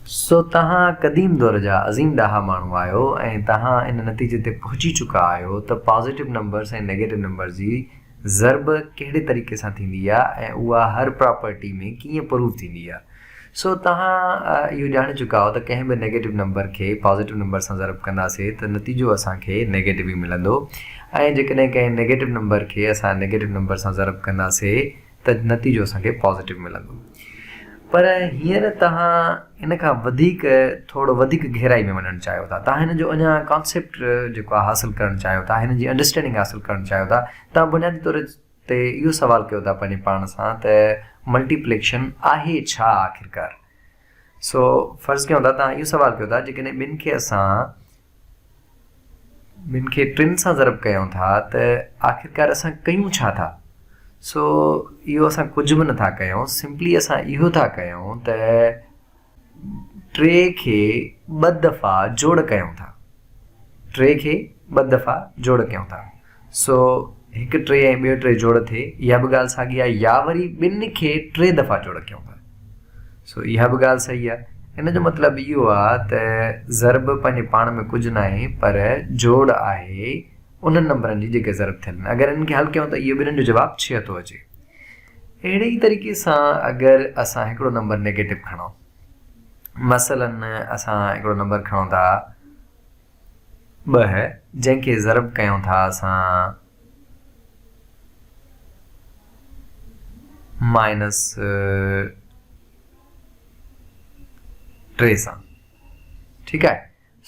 سو توهان قديم دور جا عظيم ڏاها ماڻهو آهيو ۽ توهان ان نتيجي تي پهچي چڪا آهيو ته پازيٽو نمبرز ۽ نيگيٽو نمبرز جي ضرب ڪهڙي طريقي سان ٿيندي آهي ۽ اها هر پراپرٽي ۾ ڪيئن پروف ٿيندي آهي. سو توهان اهو ڄاڻي چڪا آهيو ته ڪنهن به نيگيٽو نمبر کي پازيٽو نمبر سان ضرب ڪنداسين ته نتيجو اسان کي نيگيٽو ئي ملندو ۽ جيڪڏهن ڪنهن نيگيٽو نمبر کي اسان نيگيٽو نمبر سان ضرب ڪنداسين ته نتيجو اسان کي پازيٽو ملندو. پر هينئر توهان ان کان وڌيڪ ٿورو وڌيڪ گهرائي ۾ وڃڻ چاهيو ٿا. توهان هن جو اڃا ڪانسيپٽ جيڪو آهي حاصل ڪرڻ چاهيو ٿا، هن جي انڊرسٽينڊنگ حاصل ڪرڻ چاهيو ٿا. توهان بنيادي طور تي اهو سوال ڪيو ٿا پنهنجي پاڻ سان ته ملٽيپليڪشن آهي ڇا آخرڪار؟ سو فرض ڪيون ٿا توهان اهو سوال ڪيو ٿا جيڪڏهن ٻن کي اسان ٻن کي ٽن سان ضرب ڪيون ٿا ته آخرڪار اسان ڪيون ڇا ٿا؟ سو اهو اسان ڪجهه به نٿا ڪيون سمپلي اسان اهو ٿا ڪيون ته ٽي کي ٻه دفعا جوڙ ڪيون ٿا ٽي کي ٻه دفعا جوڙ ڪيون ٿا سو هڪ ٽي ۽ ٻيو ٽي جوڙ ٿئي، اها به ڳالهه ساڳي آهي يا وري ٻن کي ٽي دفعا جوڙ ڪيون ٿا. سو اها به ڳالهه صحيح آهي. ان جو مطلب اهو آهي ته ضرب پنهنجي پاڻ ۾ ڪجهه ناهي پر جوڙ آهي انهن نمبرن جي جيڪي ضرب ٿيل آهن. اگر انهن کي حل ڪيون ته اهو ٻنهن جو جواب ڇهه ٿو اچي. اهڙي ئي طريقي سان اگر اسان هڪڙو نمبر نيگيٽو کڻون مثلا اسان هڪڙو نمبر کڻون ٿا. ٻه، جنهن کي ضرب ڪيون ٿا اسان مائنس ٽي سان. ٺيڪ آهي.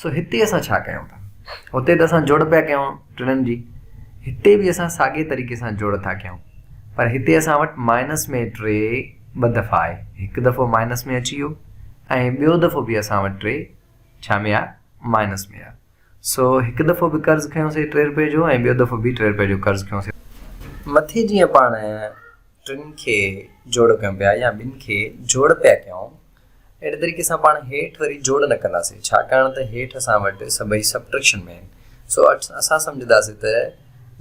سو هتي اسان ڇا ڪيون ٿا؟ هتي ته اسان جوڙ پيا ڪيون ٽنن جي. هتي به اسان ساڳي طريقي سان جوڙ ٿا ڪيون. پر هتي اسان وٽ مائنس ۾ ٽي ٻه دفعا آهي. هڪ دفعو مائنس ۾ اچي ويو ۽ ٻيو دفعو به اسان وٽ ٽي ڇا ميا مائنس ميا سو هڪ دفعو به قرض کنيو سي ٽي رپئي جو ۽ ٻيو دفعو به ٽي رپئي جو قرض کنيو سي. مٿي جيئن پاڻ ٽن کي جوڙ ڪيون پيا يا ٻن کي جوڙ پيا ڪيون اهڙي طريقي سان پاڻ هيٺ وري جوڙ نه ڪنداسي ڇاڪاڻ ته هيٺ اسان وٽ سڀئي سبٽريڪشن ۾ آهن سو اسان سمجهنداسي ته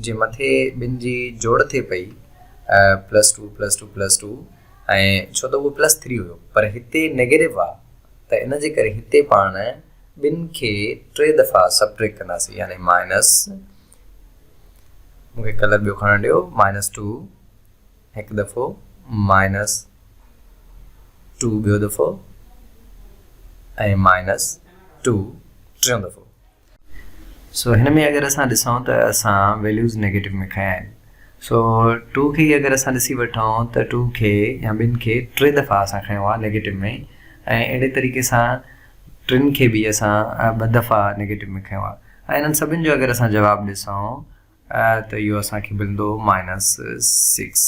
جي مٿي ٻن جي جوڙ ٿئي پئي plus two plus two plus two ۽ ڇو ته اهو پلس ٿري هيو پر هتي نيگيٽو آ ته ان جي ڪري هتي پاڻ ٻن کي ٽي دفعا سبٽريڪ ڪنداسين يعني مائنس مونکي ڪلر ٻيو کڻڻ ڏيو مائنس ٽو هڪ دفعو مائنس ٽو ٻيو دفعو ۽ مائنس ٽو ٽيون دفعو سو هن ۾ اگر اسان ڏسون ته اسان ويليوز نيگيٽو ۾ کنيا آهن سو ٽو کي اگر اسان ڏسي وٺون ته ٽو کي يا ٻن کي ٽي دفعا اسان کنيو آهي نيگيٽو ۾ ۽ اهڙي طريقي سان ٽن کي به اسان ٻه دفعا نيگيٽو ۾ کنيو آهي ۽ انهن سڀن جو اگر اسان جواب ڏسون ته اهو اسان کي ملندو مائنس سڪس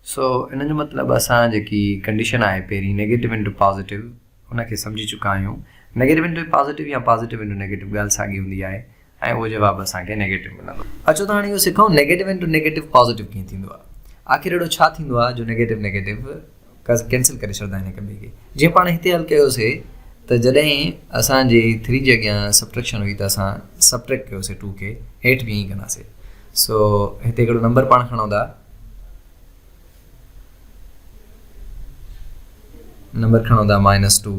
سو ان جو مطلب اسان جيڪي ڪنڊيشن آهي پهرين نيگيٽو انٽو پازيٽو ان کي سمجهي چڪا آهيون نيگيٽو انٽو پازيٽو يا پازيٽو انٽو نيگيٽو ڳالهه ساڳي هوندي آهي ۽ اهو جواب اسان کي نيگيٽو ملندو اچو ته هاڻي اهو سکون نيگيٽو انٽو نيگيٽو پازيٽو ڪيئن ٿيندو آهي آخر اهڙو ڇا ٿيندو آهي جو نيگيٽو نيگيٽو ڪينسل ڪري ڇڏندا آهن هڪ ٻئي کي جيئن پاڻ هتي حل ڪيوسي ته جڏهن اسان جي ٿري جي اڳيان سبٽريڪشن هئي ته اسان سبٽريڪٽ ڪيوسي ٽو کي هيٺ به ائين ڪنداسي سو هتي هڪڙو نمبر پاڻ کڻو ٿا نمبر کڻو ٿا مائنس ٽو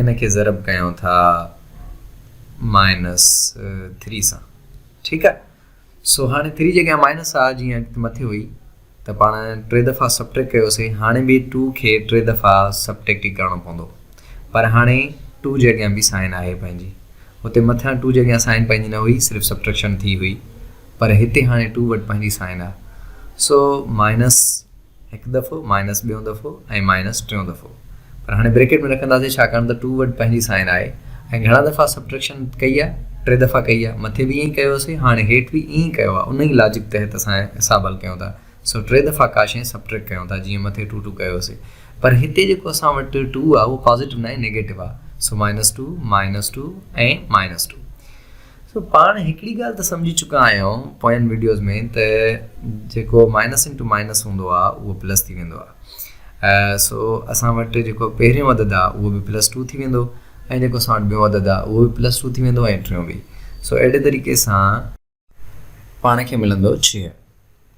ان کي ضرب ڪيون ٿا مائنس ٿري سان ٺيڪ آهي سو هاڻي ٿري جي اڳيان مائنس آهي جيئن اڳتي مٿي هئي ته پاڻ ٽي دفعا سبٽريڪٽ ڪيوسي هاڻي به ٽو کي ٽي دفعا سبٽريڪٽ ئي ڪرڻو پوندو پر هاڻي ٽو جي اڳيان به سائن آهي پنهنجي هتي مٿيان ٽو جي اڳيان سائن پنهنجي نه هئي صرف سبٽريڪشن ٿي هئي پر هتي هاڻي ٽو وٽ پنهنجي سائن آهي سو مائنس هڪ دفعو، مائنس ٻيون دفعو ۽ مائنس ٽيون دفعو. پر هاڻي بريڪيٽ ۾ رکنداسين ڇاڪاڻ ته ٽو وٽ پنهنجي سائن آهي ۽ گهڻا دفعا سبٽريڪشن ڪئي آهي، ٽي دفعا ڪئي آهي، مٿي به ائين ئي ڪيو هوسين، هاڻي هيٺ به ائين ئي ڪيو آهي، ان ئي لاجڪ تحت اسان حساب حل ڪيون ٿا، سو ٽي دفعا ڪا شيء سبٽريڪٽ ڪيون ٿا، جيئن مٿي ٽو ٽو ڪيو هوسين. پر هتي جيڪو اسان وٽ ٽو آهي اهو پازيٽو ناهي نيگيٽو آهي، سو minus two, minus two ۽ minus two. سو پاڻ هڪڙي ڳالهه ته سمجهي چڪا آهيون پوين وڊيوز ۾ ته جيڪو مائنس انٽو مائنس هوندو آهي اهو پلس ٿي ويندو آهي سو اسان وٽ جيڪو پهريون عدد آهي اهو به پلس ٽو ٿي ويندو ۽ جيڪو اسان وٽ ٻيون عدد آهي اهو به پلس ٽو ٿي ويندو ۽ ٽيون به سو اهڙي طريقي سان پاڻ کي ملندو ڇهه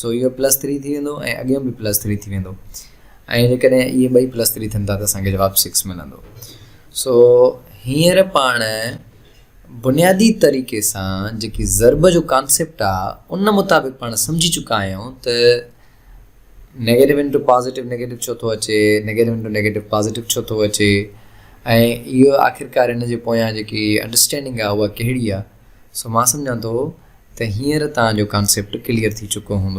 سو اهو پلس ٿري ٿي ويندو ۽ اڳيون به پلس ٿري ٿي ويندو ۽ جيڪڏهن اهي ٻئي پلس ٿري ٿين ٿا ته اسان کي جواب سڪس ملندو سو هينئر پاڻ بنيادي طريقي سان جيڪي ضرب جو ڪانسيپٽ آ ان مطابق پاڻ سمجهي چڪا آهيون ته نيگيٽو انٽو پازيٽو نيگيٽو ڇو ٿو اچي نيگيٽو انٽو نيگيٽو پازيٽو ڇو ٿو اچي ۽ اهو آخرڪار ان جي پويان جيڪي انڊرسٽينڊنگ آ اها ڪهڙي آ سو مان سمجهان ٿو ته هينئر توهان جو ڪانسيپٽ ڪليئر ٿي چڪو هوندو.